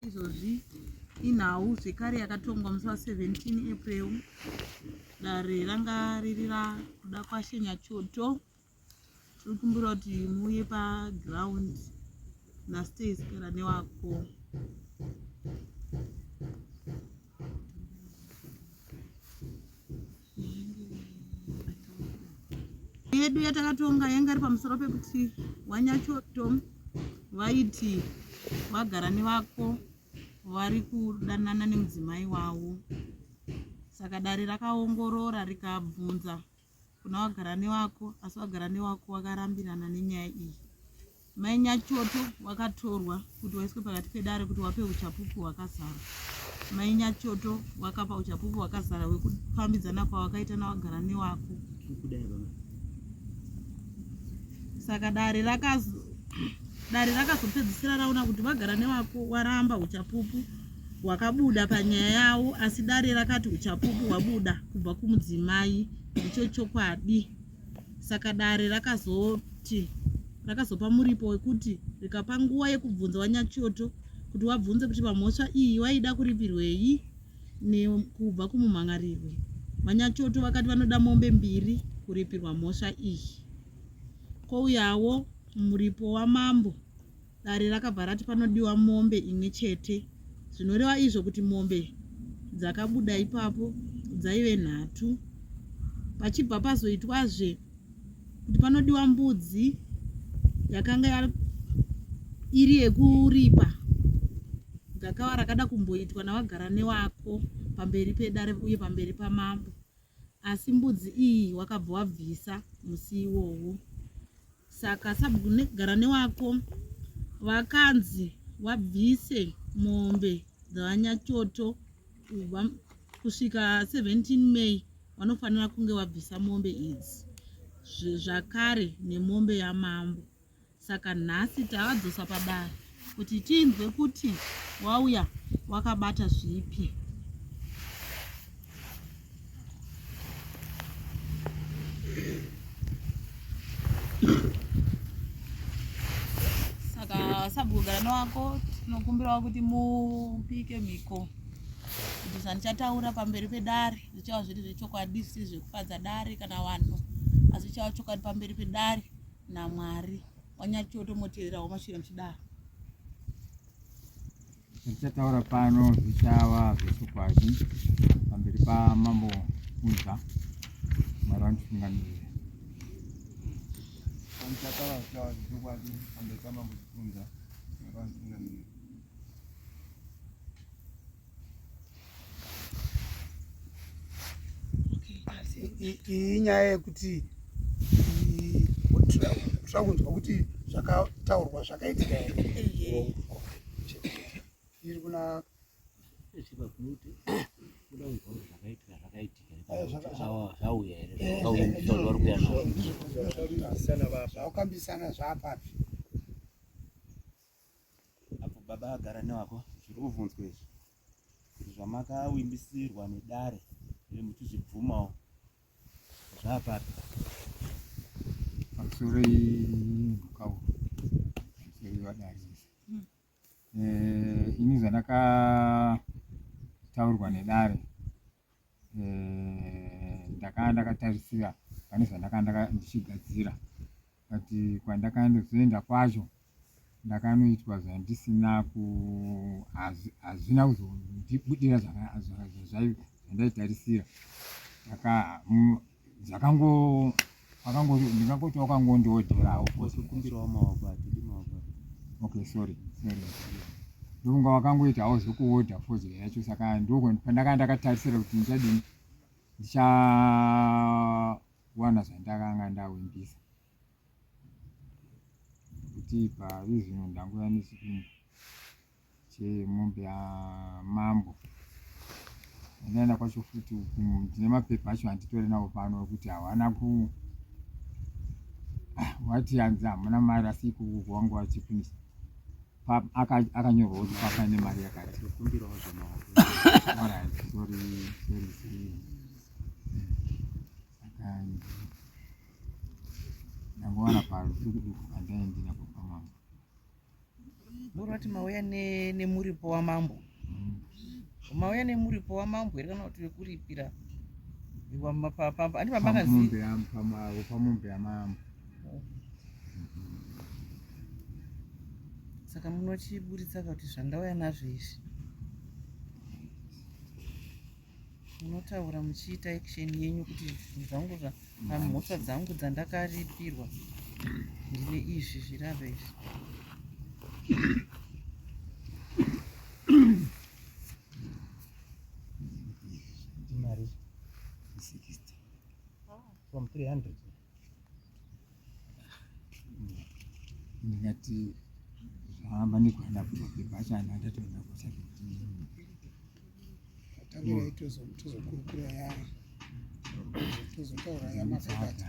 izvozvi inhau zvekare yakatongwa musi wa 17 april dare ranga riri rakuda kwashenya choto tiri kumbira kuti muuye paground nastays kera newako yedu yatakatonga yanga iri pamusoro pekuti wanyachoto vaiti vagara nevako vari kudanana nemudzimai wavo saka dare rakaongorora rikabvunza kuna wagara newako asi wagara newako wakarambirana nenyaya iyi mai nyachoto wakatorwa kuti waiswe pakati pedare kuti wape uchapupu hwakazara mai nyachoto wakapa uchapupu hwakazara hwekufambidzana kwawakaita nawagara newako saka dare rakaz dare rakazopedzisira raona kuti vagara newako waramba uchapupu hwakabuda panyaya yavo asi dare rakati uchapupu hwabuda kubva kumudzimai ndicho chokwadi saka dare rakazoti rakazopa muripo wekuti rikapa nguva yekubvunza wanyachoto kuti wabvunze kuti pamhosva iyi waida kuripirwei nekubva kumumhangarirwi vanyachoto vakati vanoda mombe mbiri kuripirwa mhosva iyi kouyawo muripo wamambo Dare rakabva rati panodiwa mombe imwe chete zvinoreva izvo kuti mombe dzakabuda ipapo dzaive nhatu pachibva pazoitwazve kuti panodiwa mbudzi yakanga iri yekuripa gakava rakada kumboitwa navagara newako pamberi pedare uye pamberi pamambo asi mbudzi iyi wakabva wabvisa musi iwowo saka sabhuku negara newako vakanzi wabvise mombe dzavanyachoto kubva kusvika 17 may wanofanira kunge wabvisa mombe idzi zvakare nemombe yamambo saka nhasi tavadzosa padare kuti tinzwe kuti wauya wakabata zvipi saka sabhugarana wako tinokumbirawo kuti mupike mhiko kuti zvandichataura pamberi pedare zvichava zviri zvechokwadi zvisiri zvekufadza dare kana vanhu asi zvichava chokwadi pamberi pedare namwari wanyatyotomoteererawo mashira muchidaro zvichataura pano zvichava zvechokwadi pamberi pamambo kunza mwari vanditungamirira zvichataura zvichava zvechokwadi pamberi pamambo kunza mwari vanditungamirira iyi nyaya yekuti tira kunzwa kuti zvakataurwa zvakaitika here iri kuna zvakambisana zvapapi Apo baba agara newako zviri kuvhunzwa izvi kuti zvamakawimbisirwa nedare uye muchizvibvumawo zvapapi pamusoro imhukawo pamusoro ivadare izvi hmm. eh, ini zvandakataurwa nedare eh, ndakanga ndakatarisira pane zvandakanga ndichigadzira but kwandakanozoenda kwacho ndakanoitwa zvandisina hazvina kuzondibudira zvandaitarisira zvakango akango ndingangoti wakangondiodzerawo kumbirawo maoko atidi maoko okay sorry sorry ndokunga wakangoita hawo zvekuodha fodya yacho saka ndoko pandakanga ndakatarisira kuti ndichadini ndichawana zvandakanga ndawimbisa kuti parizvino ndangouya nechikumba chemombe yamambo ndinaenda kwacho futi ndine mapepa acho handitore navo pano ekuti hawana ku wati hanzi hamuna mari asi ikuku kwangu vachifinisa akanyorwa kuti papa ine mari yakati ndangowana parudukuduku kandaendina kupamama Muri vati mauya nemuripo wamambo mauya nemuripo wamambo here kana kuti wekuripira pamombe yamambo saka munochiburitsa kuti zvandauya nazvo izvi munotaura muchiita action yenyu kuti zvinhu zvangu zvamhosva mm. dzangu dzandakaripirwa ndine izvi zvirava izvi mari 60 from 300 ndingati zvaamba nekuenda kumapepa acho ana ndatoenda kusati tozokurukura ya tozotaura yamapepa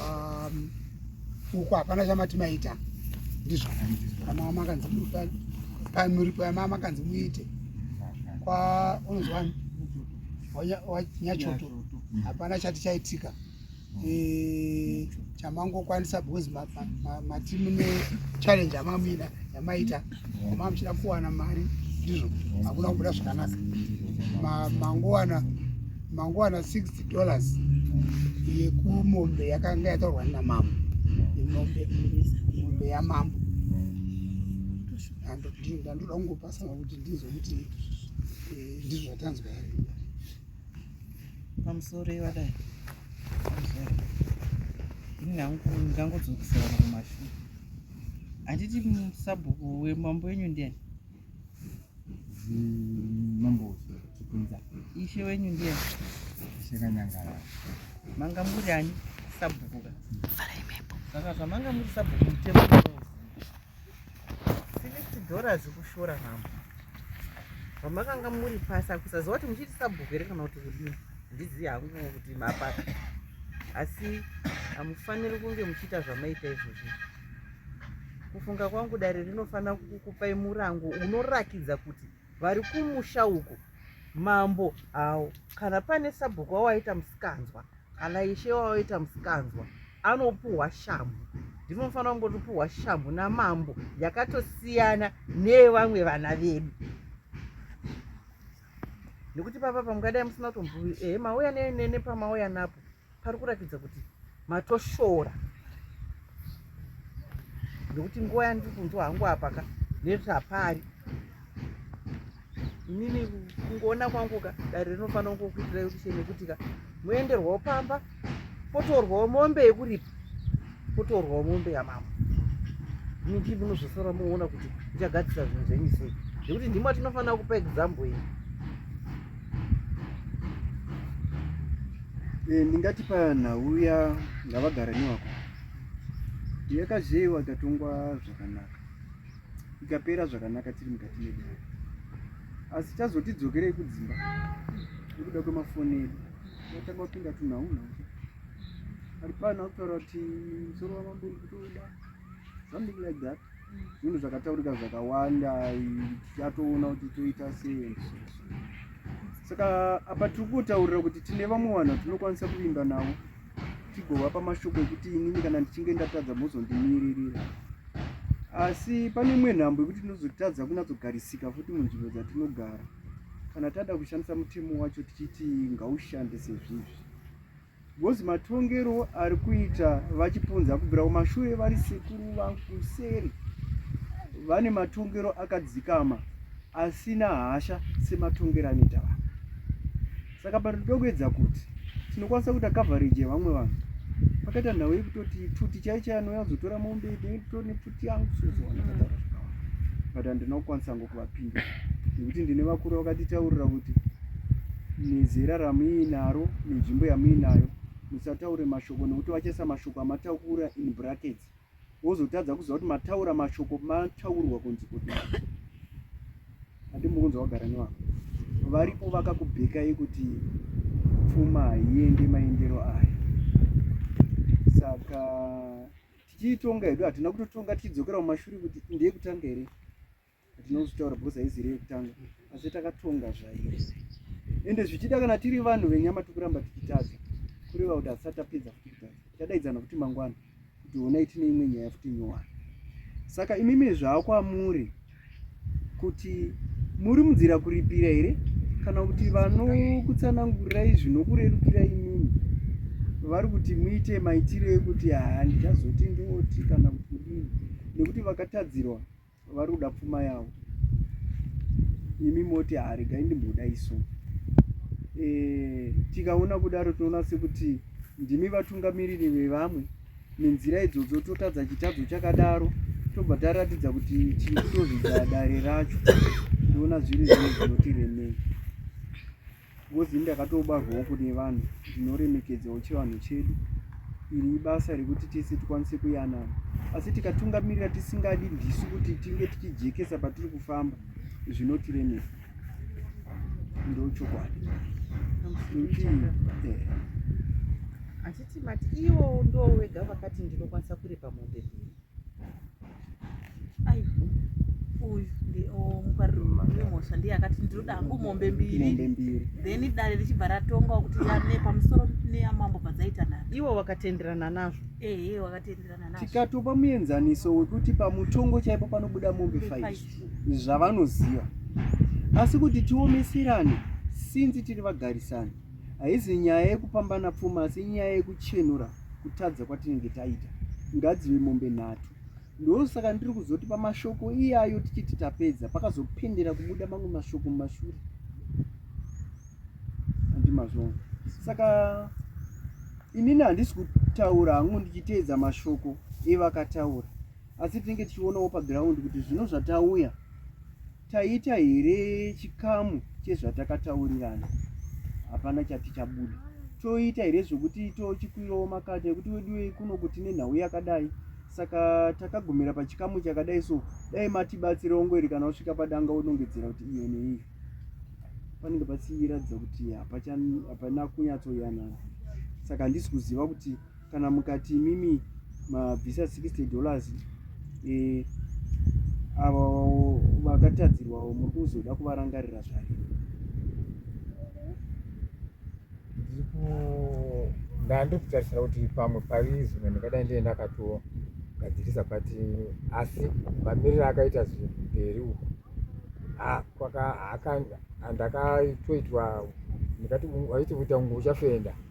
um, uku hapana chamati maita ndizvo amama makanzi pamuripo yamama makanzi muite kwa unozwani wanyachoto hapana chati chaitika e, chamangokwanisa because mati mune challenge yamamina yamaita Mama muchida kuwana mari ndizvo hakuna kubuda zvakanaka. Mangowana mangowana 60 dollars yekumombe yakanga yatorwa na mama. Mombe mombe ya mama. Ando ndinda ndoda kungopasa kuti ndizo kuti eh, ndizvo zvatanzwa here. Pamusoro yevadai. Ndingangodzokisana kumashure. Handiti sabhuku wemambo wenyu ndiani? Mambo Chikunza. Ishe wenyu ndiani? Ishe Kanyangara. Manga muri ani sabhuku ka? Farai mhepo. Saka zvamanga muri sabhuku mutemo sixty dollars kushora mambo. Zvamakanga muri pasi akusaziva kuti muchiti sabhuku here kana kuti kudini? handizivi hangu kuti mapaka asi hamufaniri kunge muchiita zvamaita izvozvi kufunga kwangu dare rinofanira kukupai murango unorakidza kuti vari kumusha uko mambo hawo kana pane sabhuku wawaita musikanzwa kana ishe wawaita musikanzwa anopuhwa shamhu ndinofanira kungotipuhwa shamhu namambo yakatosiyana neyevamwe vana vedu nekuti papa pamungadai musina kutombuvi ehe eh, mauya nene pamauya napo pari kuratidza kuti matoshora nekuti nguva yandiri kunzwa hangu apaka nekuti hapari inini kungoona kwanguka dare rinofanira kungokuitirai kuti chenekutika moenderwawo pamba potorwawo mombe yekuripa potorwawo mombe yamambo miti munozosara moona kuti ichagadzisa zvinhu zvenyu sei zvekuti ndimo atinofanira kupa example iyi eh, ndingati panhau ya ngavagara newako yakazheyiwa ikatongwa zvakanaka ikapera zvakanaka tiri mukati medu asi chazotidzokerei kudzimba nekuda kwemafoni edu Nataka wapinda tu nauna alipana kutaura kuti msoro wamambo uri kutoda something like that zvinhu zvakataurika zvakawanda tichatoona kuti toita sei saka apa tiri kutaurira kuti tine vamwe vanhu tinokwanisa kuvimba navo tigovapa mashoko ekuti inini kana ndichinge ndatadza mozondimiririra asi pane imwe nhambo yekuti tinozotadza kunyatsogarisika futi munzvimbo dzatinogara kana tada kushandisa mutemo wacho tichiti ngaushande sezvizvi because matongero ari kuita vachipunza kubvira kumashure vari sekuru vakuseri vane matongero akadzikama asina hasha sematongero anoita vanhu saka pano tinoda kuedza kuti tinokwanisa kuita coverage yevamwe vanhu pakaita nhau yekutoti pfuti chai chai anouya kuzotora mombe tone pfuti yangu sozoona kataura zvakawanda but handina kukwanisa ngo kuvapinda nekuti ndine vakuru vakatitaurira kuti nezera ramuinaro nenzvimbo yamuinayo musataure mashoko nekuti vachaisa mashoko amatakura in brackets wozotadza kuziva kuti mataura mashoko mataurwa kunzi kuti handimukunzi wagara nevako varipo vakakubhekai kuti pfuma haiende maendero aya saka tichiitonga hedu hatina kutotonga tichidzokera mumashure kuti ndeye kutanga here ndinozvitaura because haizi iri yekutanga asi takatonga zvairi ende zvichida kana tiri vanhu venyama tikuramba tichitadza kureva kuti hasati tapedza futi kutadza tadaidzana futi mangwana kuti honai tine imwe nyaya futi nyowani saka imimi zvava kwamuri kuti muri munzira kuripira here kana kuti vanokutsanangurirai zvinokurerukira imimi vari kuti muite maitiro ekuti haa ndichazoti ndoti kana kuti kudini nekuti vakatadzirwa vari kuda pfuma yavo imi moti haregai ah, ndimboda isu e, eh, tikaona kudaro tinoona sekuti ndimi vatungamiriri vevamwe nenzira idzodzo totadza chitadzo chakadaro tobva taratidza kuti chitozvidza dare racho ndoona zviri zvino zvinotiremei Ngozi ini ndakatobarwawo kune vanhu zvinoremekedzawo chivanhu chedu. Iri ibasa rekuti tese tikwanise kuyanana. Asi tikatungamirira tisingadi ndisu kuti tinge tichijekesa patiri kufamba zvinotiremesa. Ndochokwadi. Eh. Achiti mati iwo ndoo wega vakati ndinokwanisa kuripa mombe. mhosva ndiye akati ndinoda hangu mombe mbiri then dare richibva ratongawo kuti yane pamusoro neyamambo padzaitana iwo wakatenderana nazvo ehe wakatenderana nazvo tikatopa muenzaniso wekuti pamutongo chaipo panobuda mombe five zvavanoziva asi kuti tiomeserane sinzi tiri vagarisani haizi nyaya yekupambana pfuma asi nyaya yekuchenura kutadza kwatinenge taita ngadzive mombe nhatu ndosaka ndiri kuzoti pamashoko iyayo tichiti tapedza pakazopendera kubuda mamwe mashoko mumashure andimazvona saka inini handisi kutaura hangu ndichiteedza mashoko evakataura asi tinenge tichionawo paground kuti zvino zvatauya taita here chikamu chezvatakataurirana hapana chati chabuda toita here zvekuti tochikwirawo makati ekuti weduwe kuno kuti nenhau yakadai saka takagumira pachikamu chakadai so dai matibatsire ongweri kana usvika padanga unongedzera kuti iyo neiyo panenge pasiyiratidza kuti hapana kunyatsoyanana saka handisi kuziva kuti kana mukati imimi mabvisa 60 dollars eh, ava vakatadzirwawo muri kuzoda kuvarangarira zvake ndandi kutarisira kuti pamwe pari zvinhu ndingadai ndiye ndakatogadzirisa but asi mamiriro akaita zvinhu mberi uku kwaka ndakatoitwa ndikati waiti kuita ungu uchafenda ah,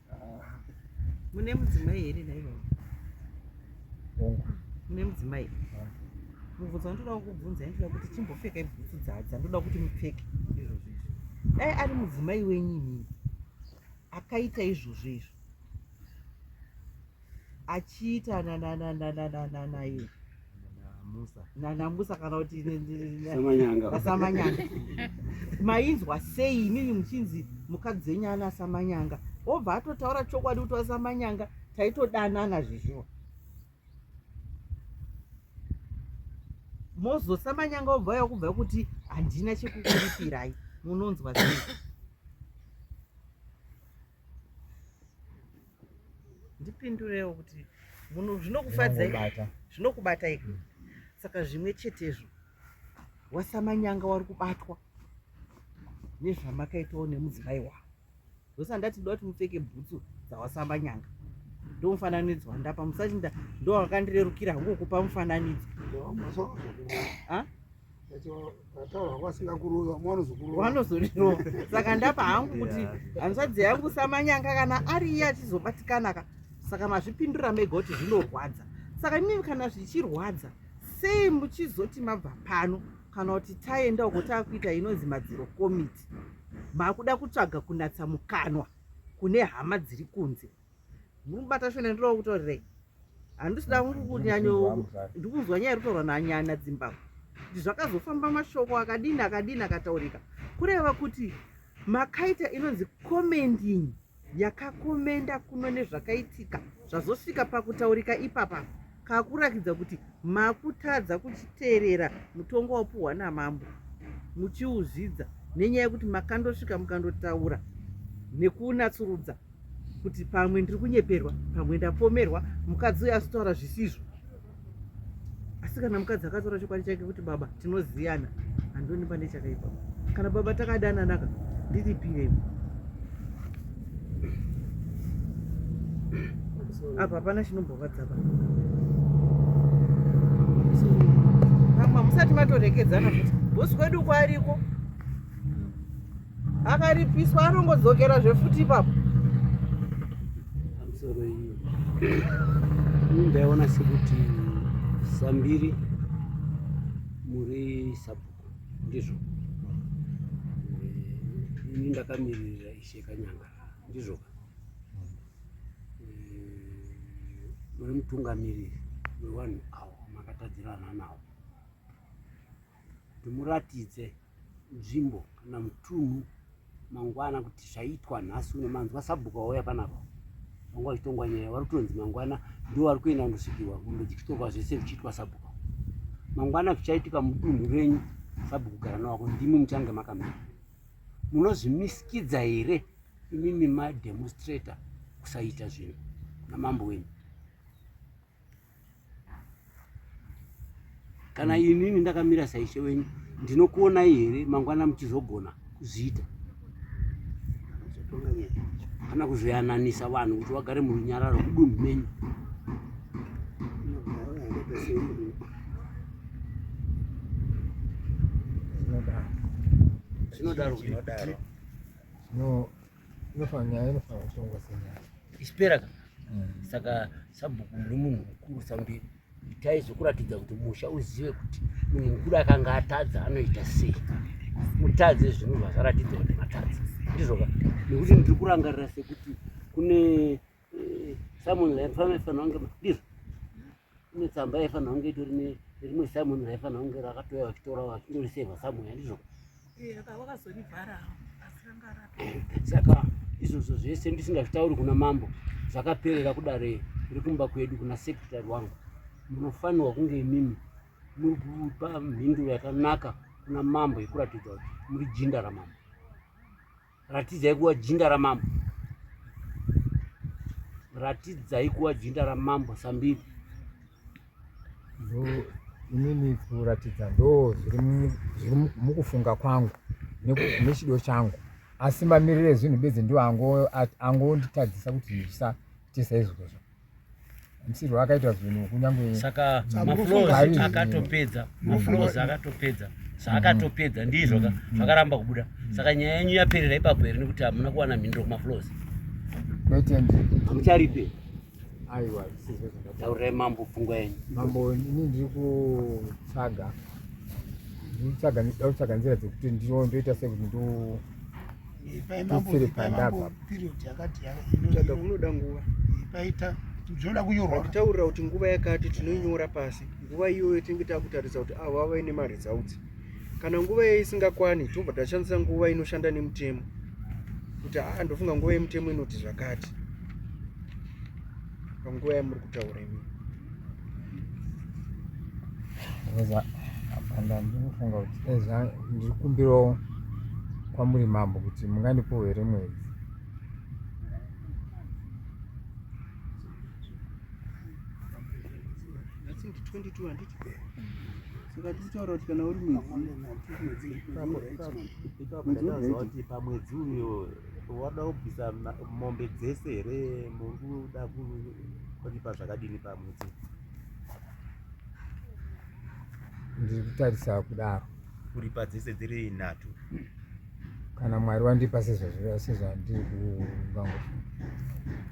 mune mudzimai here naivo mune mudzimai mubvunzo wandoda kukubvunza ndoda kuti chimbopfeka ibhutsu dzadza ndoda kuti mupfeke dai ari mudzimai wenyu inini akaita izvozvo izvo achiita nananananananaye nanamusa kana kuti asamanyanga mainzwa sei imimi muchinzi mukadzi dzenyu ana asamanyanga obva atotaura chokwadi kuti asamanyanga taitodanana zvizvo mozosamanyanga obva yakubva kuti handina chekukuripirai munonzwa sei ndipindurewo kuti munhu zvinokufadzai zvinokubatai hmm. saka zvimwe chetezvo wasamanyanga wari kubatwa nezvamakaitawo nemudzimai wavo zvose handati ndoda kuti mupfeke bhutsu dzawasamanyanga ndo mufananidzo wandapa musati ndo wakandirerukira hangu kukupa mufananidzo vanozorirowa saka ndapa hangu kuti hanzvadzi yangu samanyanga kana ari iye achizobatikana ka saka mazvipindura mega kuti zvinorwadza saka imimi kana zvichirwadza sei muchizoti mabva pano kana kuti taenda uko taakuita inonzi madziro komiti makuda kutsvaga kunatsa mukanwa kune hama dziri kunze murikubata shona ndiri wakutorerei handisida kunyanyo ndikunzwa nyaya irikutorwa nanyana dzimbabwe kuti zvakazofamba mashoko akadini akadini akataurika kureva kuti makaita inonzi commending yakakomenda kuno nezvakaitika zvazosvika pakutaurika ipapa kakurakidza kuti makutadza kuchiteerera mutongo wapuhwa namambo muchiuzvidza nenyaya yekuti makandosvika mukandotaura nekunatsurudza kuti pamwe ndiri kunyeperwa pamwe ndapomerwa mukadzi uyo asitaura zvisizvo asi kana mukadzi akataura chokwadi chake kuti baba Tinoziyana handioni pane chakaipa. Kana baba takadana naka ndiripire. Apa hapana chinomborwadza baba. Mama musati matorekedzana futi. Boss kwedu kwariko. akaripiswa anongodzokera zvefuti ipapo misoro iyi ini ndaiona sekuti sambiri muri sabhuku ndizvo Eh, ini ndakamiririra ishe kanyanga ndizvo ka Eh, muri mutungamiriri wevanhu avo makatadzirana navo ndimuratidze nzvimbo kana mutunhu mangwana kuti zvaitwa nhasi uno manzwa sabhuku vauya panapa vanga vachitongwa nyaya vari kutonzi mangwana ndo vari kuenda kundosvikirwa mombe dzichitongwa zvese zvichiitwa sabhuku mangwana zvichaitika mudunhu renyu sabhuku gara nawako ndimi muchange makamira munozvimisikidza here imimi mademonstrator kusaita zvinhu namambo wenyu kana mm. inini ndakamira saishe wenyu ndinokuonai here mangwana muchizogona kuzviita kana kuzoyananisa vanhu kuti vagare murunyararo kudunhu menyu zvinodaro zvinodaro ispera ka mm. saka sabhuku muri munhu mukuru sambiri itai zvokuratidza kuti musha uzive kuti munhu mukuru akanga atadza anoita sei mutadze zvinhu zvakaratidza kuti matadza ndizvoka nekuti ndiri kurangarira sekuti kune eh, someone like family fanonge ndizvo kune tsamba yaifanira kunge itori nerimwe simon raifanira kunge rakatouya vachitora vachindoriseva somewhere handizvo saka izvozvo zvese ndisingazvitauri kuna mambo zvakaperera kudare rekumba kwedu kuna sekretary wangu munofanirwa kunge imimi muri kupa mhinduro yakanaka kuna mambo yekuratidza kuti muri jinda ramambo Ratidzai kuva jinda ramambo. Ratidzai kuva jinda ramambo sambiri. Inini kuratidza ndo zviri mukufunga kwangu nechido changu asi mamiriro ezvinhu bedzi ndo angonditadzisa kuti ndisaite saizvozvo. msirwo akaita zvinhu kunyange saka maflows akatopedza maflows akatopedza zvaakatopedza mm-hmm. ndizvo ka mm-hmm. zvakaramba kubuda saka nyaya yenyu yaperera ipapo here nekuti hamuna kuwana mhinduro kumaflows hamucharipe aiwa taurai mambo pfungwa yenyu mambo ini ndiri kutsvaga ndiri kutsvaga nzira dzekuti ndinoita sekuti ndo kunoda nguva paita zvinoda kunyorwa kutaurira kuti nguva yakati tinoinyora pasi nguva iyoyo tinenge takutarisa kuti avo vava ine maresults kana nguva iyoyo isingakwani tobva tashandisa nguva inoshanda nemutemo kuti aa ndofunga nguva yemutemo inoti zvakati panguva yamuri kutaura imi ndandinofunga kuti eza ndiri kumbirawo kwamuri mambo kuti mungandipo here mwedzi saka tichitaura kuti kana uri mwedzi pamwedzi uyo Wada kubvisa mombe dzese here mukuda kuripa zvakadini pamwedzi? Ndiri kutarisa kudaro. Kuripa dzese dziri nhatu. Kana Mwari wandipa sezvandiri kuvangu.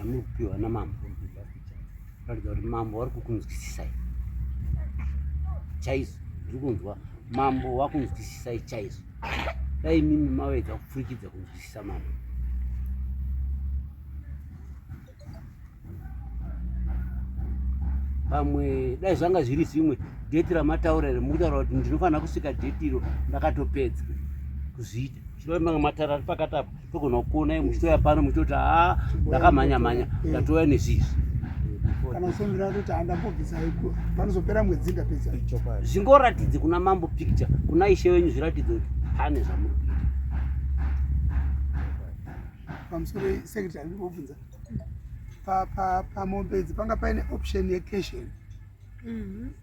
amuri kupiwa namambo ratidza kuti mambo wari kukunzwisisai chaizvo ndiri kunzwa mambo wakunzwisisai chaizvo dai mimi mawedza kupfurikidza kunzwisisa mambo pamwe dai zvanga zviri zvimwe deti ramataura iri mukutaura kuti ndinofanira kusvika deti iro ndakatopedza kuzviita chirove manga mataura ari pakati apo Togona kuona muchitoya pano muchitoti haa ah, ndakamhanya mhanya ndatouya nezvizvi kana usondira kuti handambobvisa iko panozopera mwedzi ndapedza zvingoratidze kuna mambo picture kuna ishe wenyu zviratidze kuti pane zvamuri pamusoro secretary ndibobvunza pamombe idzi panga paine option yecation mm -hmm.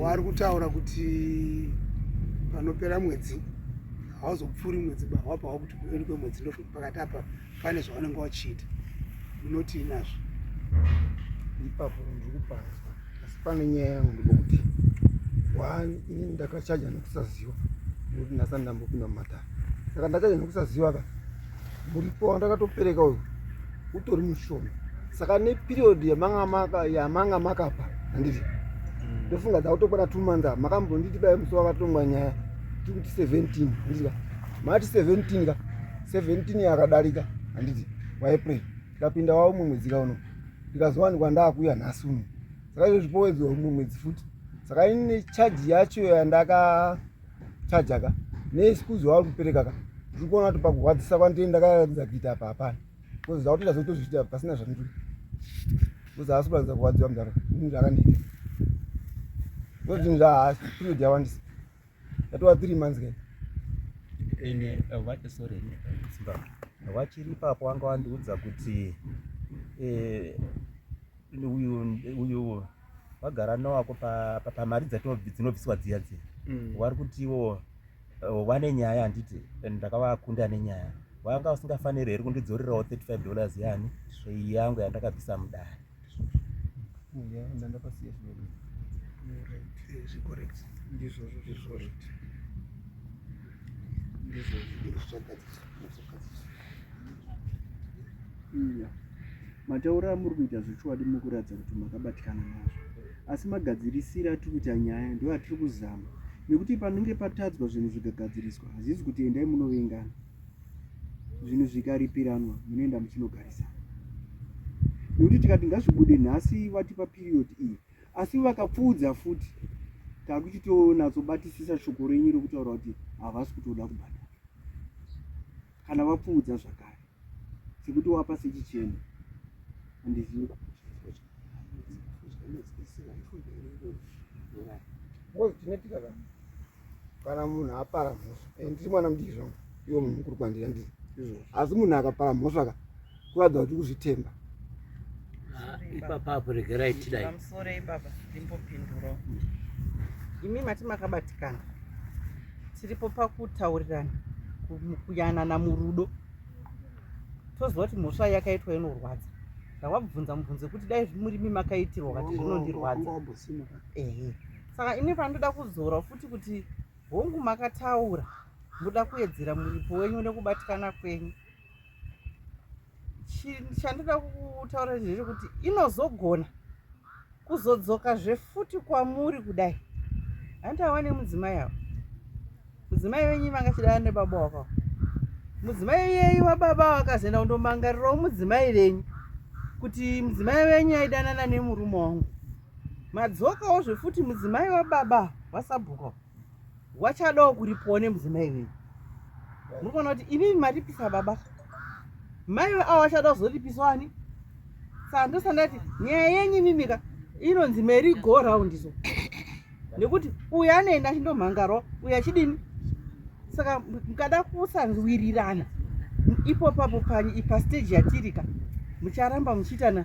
waari kutaura kuti panopera mwedzi hauzopfuuri mwedzi bahwapa wakuti kueni kwemwedzi ndozvokuti pakati apa pane zvavanenge vachiita unoti inazvo ipapo ndiri kuparadzwa asi pane nyaya yangu ndikokuti one ini ndakachaja nekusaziva nekuti ndasani ndambopinda mumatare saka ndachaja nekusaziva ka muripo wandakatopereka uyu utori mushoma saka neperiod yamanga makapa handiti mm. ndofunga dzakutokwana two months a makambonditi bai musi wakatongwa nyaya tikuti seventeen handiti ka mati seventeen ka seventeen yakadarika handiti waepre tikapinda wavo mumwe mwedzi ka uno ndikazowanikwa ndaakuya nhasi uno saka izvo zvipowedzwa mumwe mwedzi futi saka ine chaji yacho yandaka chaja ka neexcuse wauri kupereka ka ndiri kuona kuti pakurwadzisa kwandiri ndakaratidza kuita apa hapana bcause zvakutoita zvekutozviita pasina zvandiri bcause haasi kuratidza kurwadziwa mudhara ini zvakandiita bcause zvinhu zvahaasi period yawandisa yatova three months kai ene eh, vati sorry simba vachiri ipapo wanga wandiudza kuti eh, uyu uyu wagara nowako pamari dzinobviswa dziya dziya mm. wari kuti iwo eh, wane nyaya handiti and ndakavakunda ane nyaya wanga usingafaniri here kundidzorerawo 35 dollars yani svei yangu yandakabvisa mudare ndizvozvo iya mataura amuri kuita zvechokwadi muri kuratidza kuti makabatikana nazvo asi magadzirisire atiri kuita nyaya ndo atiri kuzama nekuti panenge patadzwa zvinhu zvikagadziriswa hazvizi kuti endai munovengana zvinhu zvikaripiranwa munoenda muchinogarisana nekuti tikati ngazvibude nhasi vatipa period iyi e. asi vakapfuudza futi takuchitonasobatisisa shoko renyu rekutaura kuti havasi kutoda kubhadhara kana vapfuudza zvakare sekuti wapa sechichena andizivi What do you think of that? kana munhu apara mhosva eh, ndiri mwana mudiki zvangu iwo munhu mukuru kwandiri andiri asi munhu akapara mhosva ka kuratidza kuti kuzvitemba ah, ipapa apo regerai tidaiamsorei baba ndimbopinduro imi mati makabatikana tiripo pakutaurirana kuyanana murudo toziva kuti mhosva yakaitwa inorwadza zvawabvunza mubvunzo kuti dai murimi makaitirwa kati zvinondirwadza ehe saka ini pandoda kuzora futi kuti hongu makataura ndoda kuwedzera muripo wenyu nekubatikana kwenyu chandoda kutaura zvezvo kuti inozogona kuzodzoka zvefuti kwamuri kudai hanti awa nemudzimai avo mudzimai venyu vanga chidana nebaba wakawo mudzimai yeyu wababa wakazoenda kundomangarirawo mudzimai venyu kuti mudzimai venyu aidanana nemurume wangu madzokawo zvefuti mudzimai wababa vasabhuka wachadawo kuripiwa nemudzimai wenyu muri kuona kuti imimi maripisa baba maive avo vachada kuzoripisa wani saka ndosandati nyaya yenyu imimika inonzi mari go round so nekuti uyu anoenda achindomhangarwa uyu achidini saka mukada kusanzwirirana ipo papo panyi ipasteji yatirika mucharamba muchiitana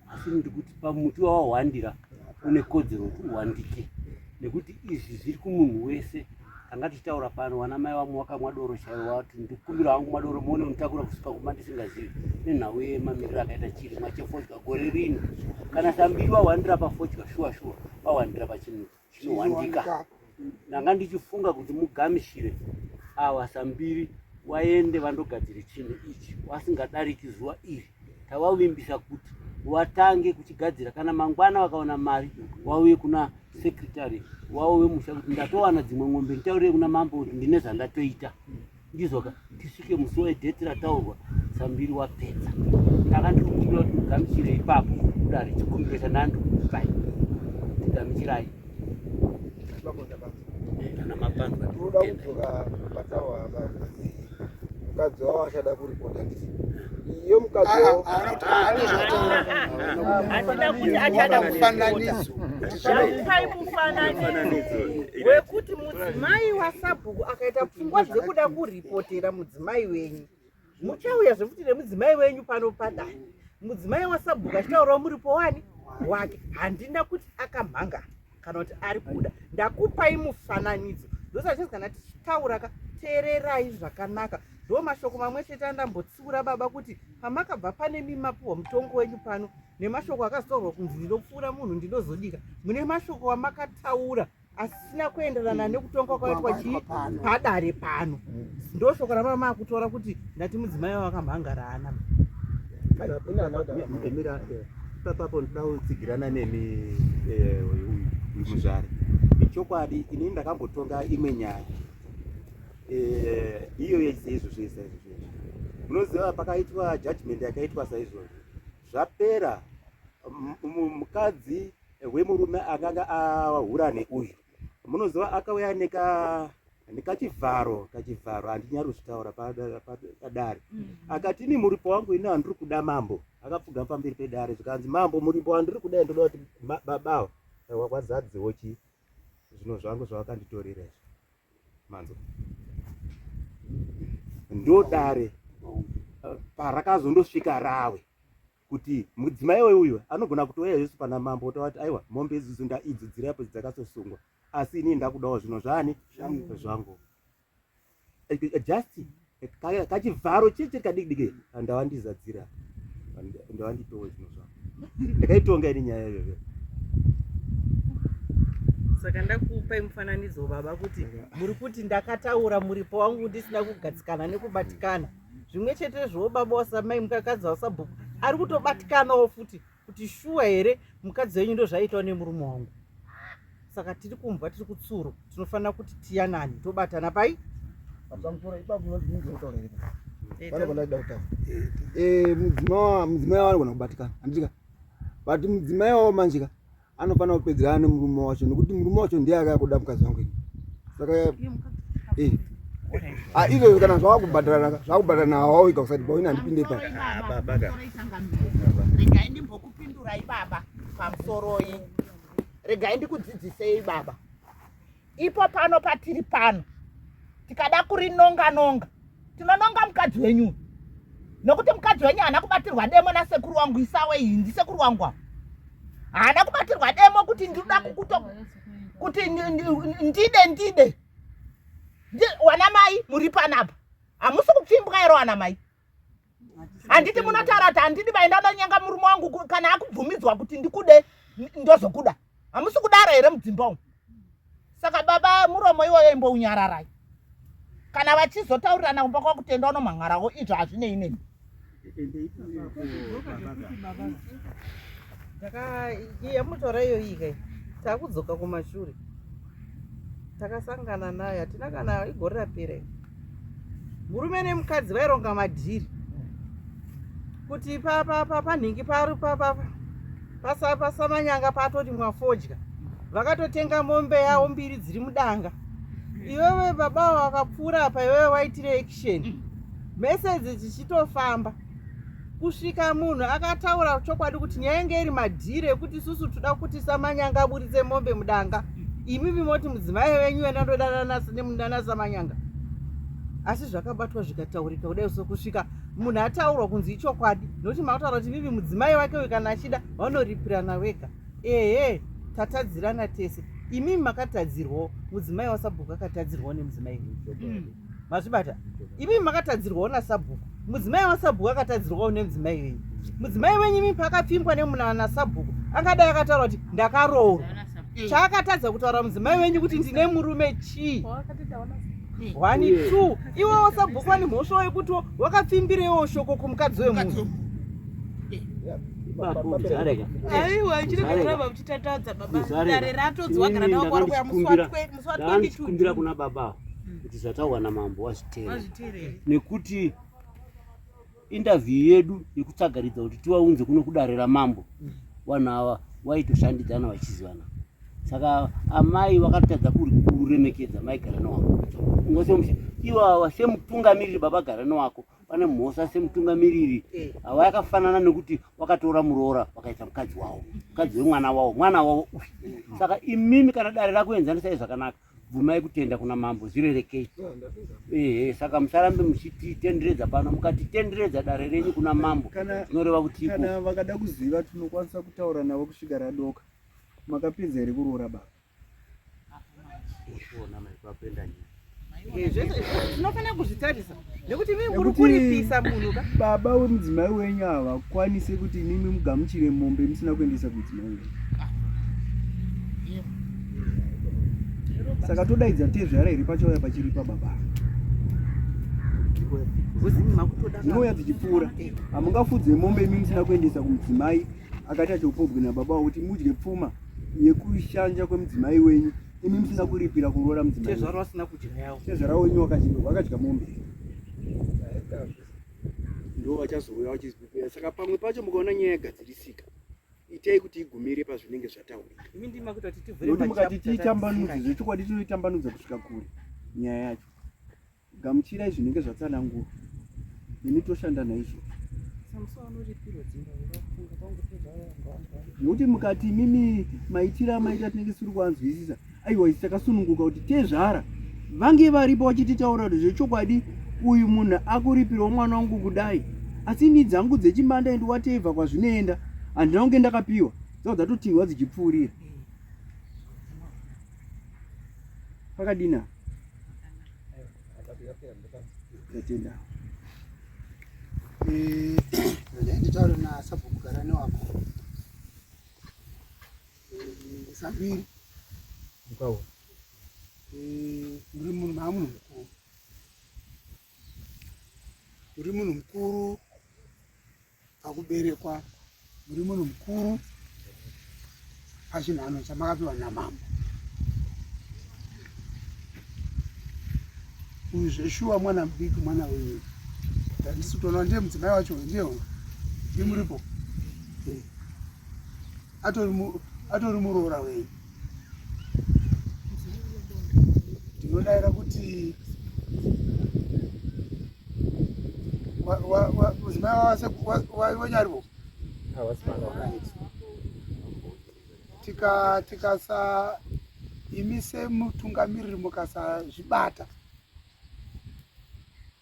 asi ndiri kuti pamuti wawahwandira une kodzero kuti uhwandike nekuti izvi zviri kumunhu wese tanga tichitaura pano vana mai vamwe vakamwa doro chaivo vati ndikumbira hangu madoro muone mutakura kusvika kuma ndisingazivi nenhau yemamiriro akaita chirimwa chefodya gore rino kana sambiri vahwandira pafodya shuwa shuwa vahwandira pachimuti zvinowanika ndanga ndichifunga kuti mugamishire awa sambiri waende vandogadzire chinhu ichi wasingadariki zuva iri tavavimbisa kuti watange kuchigadzira kana mangwana vakaona mari wauye kuna sekretary wavo vemusha kuti ndatowana dzimwe ng'ombe nditaurire kuna mambo kuti ndine zvandatoita ndizvo ka tisvike musi wedheti rataurwa sambiri wapedza ndaka ndiri kukumbira kuti mugamuchire ipapo kudari chikumbiro chandandi kukupai ndigamuchirai kana mapanza tinoda kudzoka patawa mukadzi wavo achada kuripota ndisi iyo mukadzi wavo achada kufananidzo wekuti Mudzimai wasabhuku akaita pfungwa dzekuda kuripotera mudzimai wenyu, muchauya zvekuti nemudzimai wenyu pano padani. Mudzimai wasabhuku achitaurawo muripo wani wake, handina kuti akamhanga kana kuti ari kuda. Ndakupai mufananidzo ndosachii kana tichitaura ka teererai zvakanaka ndo mashoko mamwe chete andambotsiura baba kuti pamakabva pane mimapuhwa mutongo wenyu pano nemashoko akazotaurwa kunzi ndinopfuura munhu ndinozodika mune mashoko wamakataura asisina kuenderana nekutonga kwaitwa chii padare pano ndoshoko ramama makutora kuti ndati mudzimai wakamhangarana papapo ndoda kutsigirana nemi eh, uyu muzvare ichokwadi ini ndakambotonga imwe nyaya eh, iyo yaise izvozvo isa izvozvo munoziva pakaitwa judgment yakaitwa saizvozvo zvapera mukadzi hwemurume akanga ahura neuyu munoziva akauya neka ndikachivharo kachivharo handinyari kuzvitaura padare mm. akati ini muripo wangu ini handiri kuda mambo akapfuga pamberi pedare zvikanzi mambo muripo wandiri kuda ndoda kuti babawa wakwazadziwo chi zvino zvangu zvavakanditorera izvo manzo ndodare parakazondosvika rawe kuti mudzimai we uyu anogona kutouya yesu pana mambo otaura kuti aiwa mombe izuzu ndaidzidzira yapo dzakasosungwa asi inii ndakudawo zvino zvani zvangu just kachivharo chete kadikidiki ndava ndizadzira ndava nditowe zvino zvangu ndakaitonga ini nyaya iyoyo saka ndakupai mufananidzo baba kuti muri kuti ndakataura muripo wangu ndisina kugadzikana nekubatikana zvimwe chetezvowo baba wasamai mukakadzi wasabhuku ari kutobatikanawo futi kuti shuwa here mukadzi wenyu ndo zvaiitwa nemurume wangu saka tiri kumbwa tiri kutsuro tinofanira kuti tiyanani tobatana pai mudzimai avanogona kubatikana handitika but mudzimai wavo manjika anofanira kupedzerana nemurume wacho nekuti murume wacho ndiye akakuda mukadzi wangu saka eh. ah, izvozvo kana zvakubhadharana zvakubhadharana hawawika kusati bawini handipinde pa regai ndimbokupindurai baba pamusoroi regai ndikudzidzisei baba ipo pano patiri pano tikada kurinonga nonga tinononga mukadzi wenyu nokuti mukadzi wenyu haana kubatirwa demo nasekuru wangu isawe iyi ndisekuru wangu avo haana kubatirwa demo kuti ndinoda kukuto kuti ndide ndide wana mai muri panapa hamusi kupfimbwa ero wana mai handiti munotaura kuti handidi vaindada nyanga murume wangu kana akubvumidzwa kuti ndikude ndozokuda hamusi kudara here mudzimba umu saka baba muromo iwoyo imbounyararai kana vachizotaurirana kumba kwakutenda unomhan'arawo izvo hazvinei neni ndakaiyamutora iyoyika takudzoka kumashure takasangana naye hatina kana igore rapera murume nemukadzi vaironga madhiri kuti panhingi pari pasamanyanga patoti mwafodya vakatotenga mombe yavo mbiri dziri mudanga iwewe baba vakapfuura apa iwewe waitire action message dzichitofamba kusvika munhu akataura chokwadi kuti nyaya inge iri madhiri ekuti isusu toda kuti samanyanga aburitse mombe mudanga imimi moti mudzimai venyu yena ndodanana samanyanga asi zvakabatwa zvikataurika kudai so kusvika munhu ataurwa kunzi ichokwadi nokuti mataura kuti mimi mudzimai wake uyu kana achida vanoripirana vega ehe tatadzirana tese imimi makatadzirwawo mudzimai wasabhuku akatadzirwawo nemudzimai mm. mazvibata imi makatadzirwawo nasabhuku mudzimai wasabhuku akatadzirwawo nemudzimai wenyu mudzimai wenyu imi paakapfimbwa nemunana nasabhuku angadai akataura kuti ndakaroorwa eh. chaakatadza kutaura mudzimai wenyu kuti ndine murume chii one eh. two iwe wasabhuku ane mhosva wekutiwo wakapfimbirewo shoko kumukadzi wemunhu aiwa chiri kuitira baba muchitatadza baba dare ratodzwa gara nawo kwari kuyamuswatwe Ndaandikumbira kuna baba ava mm. kuti zvataurwa namambo wazviteerere nekuti interview yedu yekutsagaridza kuti tivaunze kuno kudare ramambo mm. vanhu ava vaitoshandidzana vachizivana saka amai vakatadza kuremekedza mai garano wako ungasomusha ivo ava semutungamiriri baba garano wako Pane mhosa semutungamiriri eh. ava yakafanana nekuti wakatora muroora wakaita mukadzi wavo mukadzi wemwana wavo mwana wavo saka imimi kana dare rakuenzanisai zvakanaka bvumai kutenda kuna mambo zvirerekei ehe saka musarambe muchititenderedza pano mukatitenderedza dare renyu kuna mambo zvinoreva kuti kana vakada kuziva tinokwanisa kutaura navo kusvika radoka makapinza here kuroora baba tinofanira kuzvitarisa nekuti imi muri kuripisa munhu ka baba wemudzimai wenyu havakwanise kuti imimi mugamuchire mombe musina kuendesa kudzimai wenyu saka todaidza tezvara iri pachauya pachiri pababa inouya tichipfuura hamungafudze mombe imi musina kuendesa kumudzimai akaita choupobwe nababa wavo kuti mudye pfuma yekushanja kwemudzimai wenyu imi musina kuripira kuroora mudzimaiezvaro asina kudya yavo tezvara wenyu wakachirwa wakadya mombe ndo vachazouya vachizipira saka pamwe pacho mukaona nyaya yagadzirisika itai kuti igumire pazvinenge zvataurika mukati tiitambanudze zvechokwadi tinoitambanudza kusvika kure nyaya yacho Gamuchirai zvinenge zvatsanangurwa, nemi toshanda naizvo. Nokuti mukati imimi maitira maita tinenge tisiri kuvanzwisisa, aiwa isi takasununguka kuti tezvara vange varipo vachititaura kuti zvechokwadi uyu munhu akuripirwa mwana wangu kudai asi ni dzangu dzechimanda endi watevha kwazvinoenda handina kunge ndakapiwa dzaa dzatotinhwa dzichipfuurira Pakadina. Tatenda. Eh, nditaure na sabhuku garani wako. Eh, sabiri. Ukawo. Eh, uri munhu mamunhu mukuru. Uri munhu mukuru. pakuberekwa muri munhu mukuru pachinhano chamakapiwa namambo uyu zveshuwa mwana mudiki mwana wenyu ndandisi kutoona ndiye mudzimai wacho ndiye ndimuripo atori muroora wenyu ndinodaira kuti mudzimai wavasekuwanyarivo tika tikasa imi semutungamiriri mukasazvibata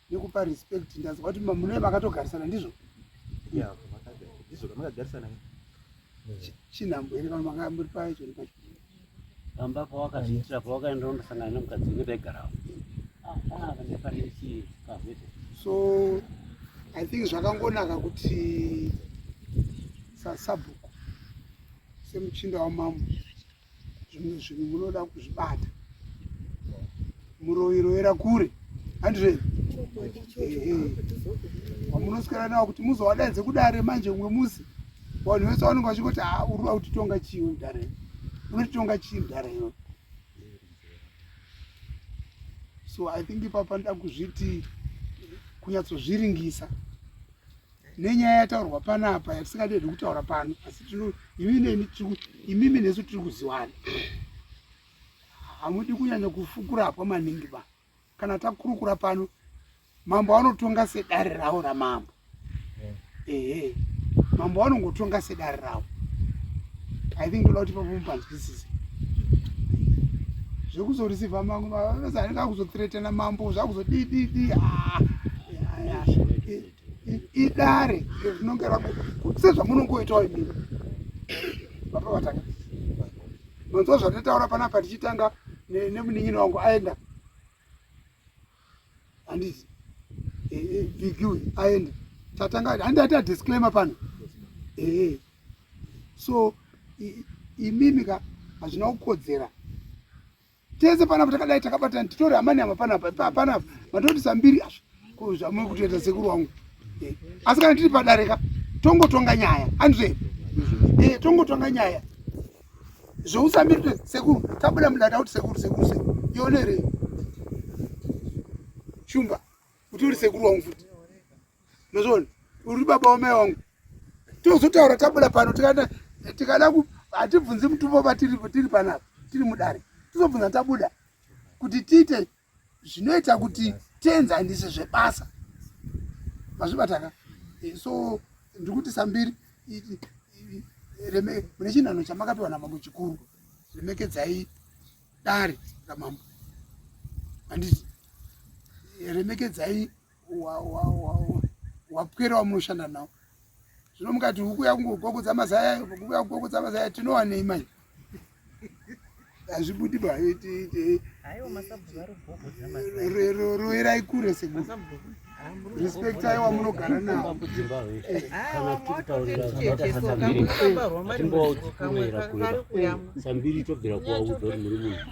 nekupa respect ndanzwa kuti mune makatogarisana ndizvo chinhambo here vanhu manga muri pacho ne pacho pamba pawakazviitira pawakaenda undosangana nemukadzi wenge taigarawo so i think zvakangonaka kuti sasabhuku semuchinda wamambo zvimwe zvinhu munoda kuzvibata muroiroera kure handire wamunoswera nawo kuti muzowadaidze kudare manje umwe musi vanhu vese vanonge vachingoti a ah, urikuda kutitonga chii mudare unotitonga chii mudare iyo so i think ipapa ndoda kuzviti kunyatsozviringisa nenyaya yataurwa panapa yatisingadiedi kutaura pano asi imimi nesu tiri kuziwana hamudi kunyanya kufukurapwa maningi ba kana takurukura pano mambo vanotonga sedare ravo ramambo eh. ehe mambo vanongotonga sedare ravo i think ndoda kuti papomu panzwisise zvekuzorisivha mangu vanozi anenge akuzotiretena mambo zvakuzodididi ah, idare iro rinonge rako kuti sezvamunongoitawo imimi baba vatanga manzwa zvatataura panapa tichitanga nemunin'ini wangu aenda handizi bigi uyu aenda tatanga handi ati adisclaimer pano ee so imimi ka hazvina kukodzera tese panapa takadai takabatana titore amani ama panapa panapa matoti sambiri azvo ko zvamuri kutoita sekuru wangu eh, asi kana tiri padare ka tongotonga nyaya andizve eh, tongotonga nyaya zvousambiri kuti sekuru tabuda mudada kuti sekuru sekuru se yonere shumba kuti uri sekuru wangu futi Mazviona? Uri baba wamai wangu. Tozotaura tabuda pano tikada tikada ku hatibvunzi mutumbo vatiri tiri panapa tiri mudare. Tizobvunza tabuda kuti tiite zvinoita kuti tienzanise zvebasa. Mazvibataka? Eh, so ndiri kuti sambiri mune chinhanho chamakapiwa namambo chikuru remekedzai dare ramambo handiti remekedzai wapwera wamunoshanda nawo zvino mukati huku yakungogogodza mazaya huku yakugogodza mazaya tinowanei manje hazvibudi ba roerai kure sekuru respect aiwa munogara nawo sambiri tobvira kuwaudza kuti muri munhu